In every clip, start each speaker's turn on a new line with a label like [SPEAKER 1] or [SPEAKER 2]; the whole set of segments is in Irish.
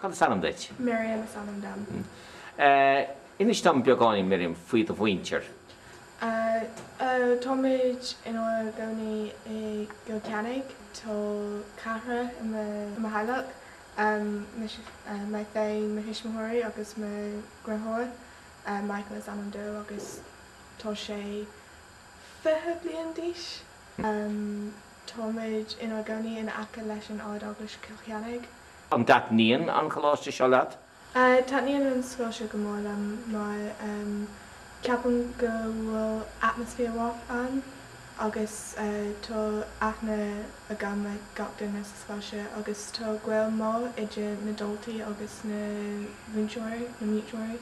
[SPEAKER 1] Cad is ainm duit? Miriam is ainm dom. Inis dom beagáinín, Miriam, faoi do mhuintir.
[SPEAKER 2] Táimid inár gcónaí i gCill Ceannaigh, tá ceathrar i mo theaghlach, mé féin, mo thuismitheoirí agus mo dheartháir. Michael is ainm dó agus tá sé. fiche bliain d'aois. Táimid inár gcónaí in aice leis an Ard-Eaglais Chill Cheannaigh. An dtaitníonn
[SPEAKER 1] an choláiste seo leat? Taitníonn an
[SPEAKER 2] scoil seo go mór liom mar ceapaim go bhfuil atmaisféar mhaith ann agus tá aithne agam ar gach duine sa scoil seo agus tá gaol mhaith idir na daltaí agus na múinteoirí, na múinteoirí.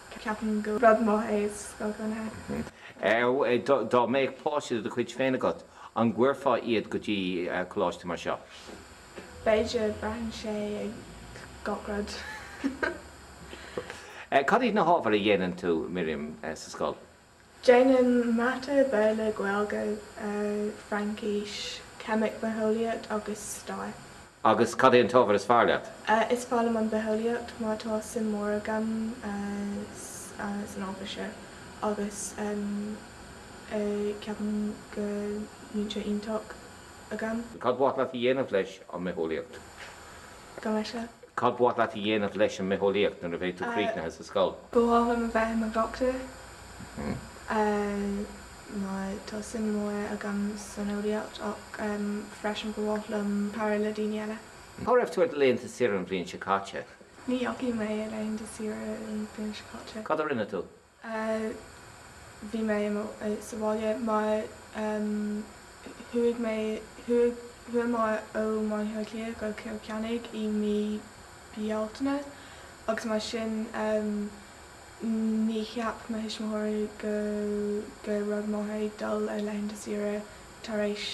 [SPEAKER 2] ceapaim gur rud maith é is go hannamh. Dá
[SPEAKER 1] mbeadh páiste de do chuid féin agat, an gcuirfeá iad go dtí coláiste mar seo?
[SPEAKER 2] B'fhéidir, braitheann sé ar gach
[SPEAKER 1] rud. Cad iad na hábhair a dhéanann tú, Miriam, sa scoil?
[SPEAKER 2] Déanaim Mata Béarla, Gaeilge, Fraincis, Ceimic, Bitheolaíocht agus Stair. Agus cad é an
[SPEAKER 1] t-ábhar is fearr leat? Is fearr liom an
[SPEAKER 2] Bhitheolaíocht mar tá suim mór agam san ábhar seo agus ceapaim go múinteoir iontach agam. Cad ba mhaith leat a
[SPEAKER 1] dhéanamh leis an mBitheolaíocht? Gabh mo
[SPEAKER 2] leithscéal? Cad ba mhaith leat a
[SPEAKER 1] dhéanamh leis an mBitheolaíocht nuair a bheidh tú críochnaithe sa scoil? Ba mhaith liom a bheith
[SPEAKER 2] i mo dhochtúir mar tá suim mhór agam san eolaíocht ach freisin ba mhaith liom cabhrú le daoine eile. Cá raibh tú ar do
[SPEAKER 1] laethanta saoire an bhliain seo caite? Ní dheachaigh mé
[SPEAKER 2] ar laethanta saoire an bhliain seo caite. Cad a rinne tú? a bhí mé sa bhaile mar chuaigh mé chuaigh chuaigh mé ó Bhaile Átha Cliath go Cill Ceannaigh i mí Bealtaine agus mar sin ní cheap mo thuismitheoirí go rud maith ag dul ar laethanta saoire tar éis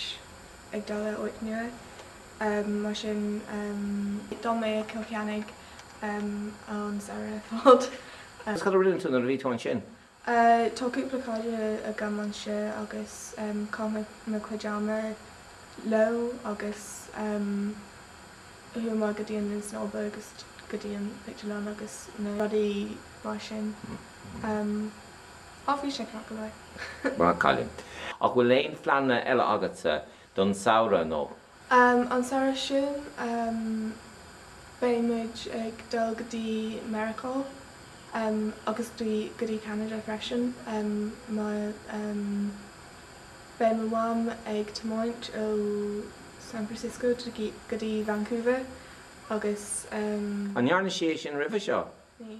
[SPEAKER 2] ag dul ar áit nua mar sin d'fhan mé i Cill Ceannaigh M, an samhradh ar fad. Agus cad a
[SPEAKER 1] rinne tú nuair a bhí tú ansin? A,
[SPEAKER 2] Tá cúpla cairde agam anseo agus chaith mé mo chuid ama leo agus chuamar go dtí an linn snámha agus go dtí an pictiúrlann agus na rudaí mar sin. M, Á, bhí sé ceart go leor. Maith an cailín.
[SPEAKER 1] Ach bhfuil aon phleananna eile agatsa don samhradh nó? An
[SPEAKER 2] samhradh sin beidh muid ag dul go dtí Meiriceá agus go dtí Ceanada freisin mar beidh mo mham ag tiomáint ó San Francisco go dtí Vancouver agus. An ndearna
[SPEAKER 1] sí é sin roimhe seo? Ní.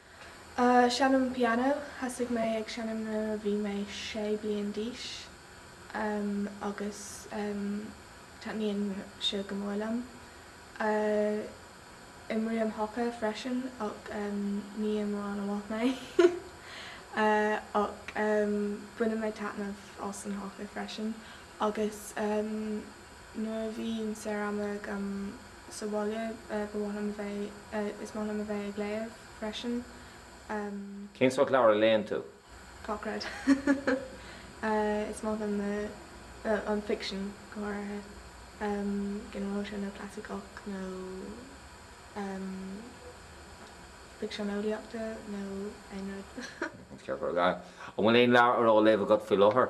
[SPEAKER 1] Seinnim
[SPEAKER 2] pianó. Thosaigh mé ag seinnim nuair a bhí mé sé bliain d'aois agus taitníonn sé go mór liom. Imrím haca freisin ach ní imreoir an-mhaith mé. Ach baineann mé taitneamh as an haca freisin agus nuair a bhíonn saor ama agam, sa bhaile, ba mhaith liom a bheith, is maith liom a bheith ag léamh
[SPEAKER 1] freisin. Cén
[SPEAKER 2] sórt leabhar a léann
[SPEAKER 1] tú? Gach rud. Is
[SPEAKER 2] maith liom na, an ficsean go háirithe, ginearálta, nó clasaiceach nó ficsean eolaíochta nó aon rud.
[SPEAKER 1] An bhfuil aon leabhar a raibh á léamh agat faoi láthair?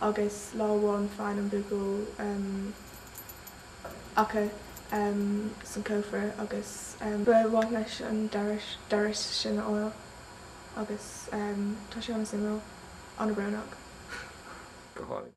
[SPEAKER 2] agus lá amháin faigheann an buachaill eochair san cófra agus. ba mhaith leis an doras sin a fháil
[SPEAKER 1] agus tá sé
[SPEAKER 2] an-suimiúil, an-bhrónach. go hálainn.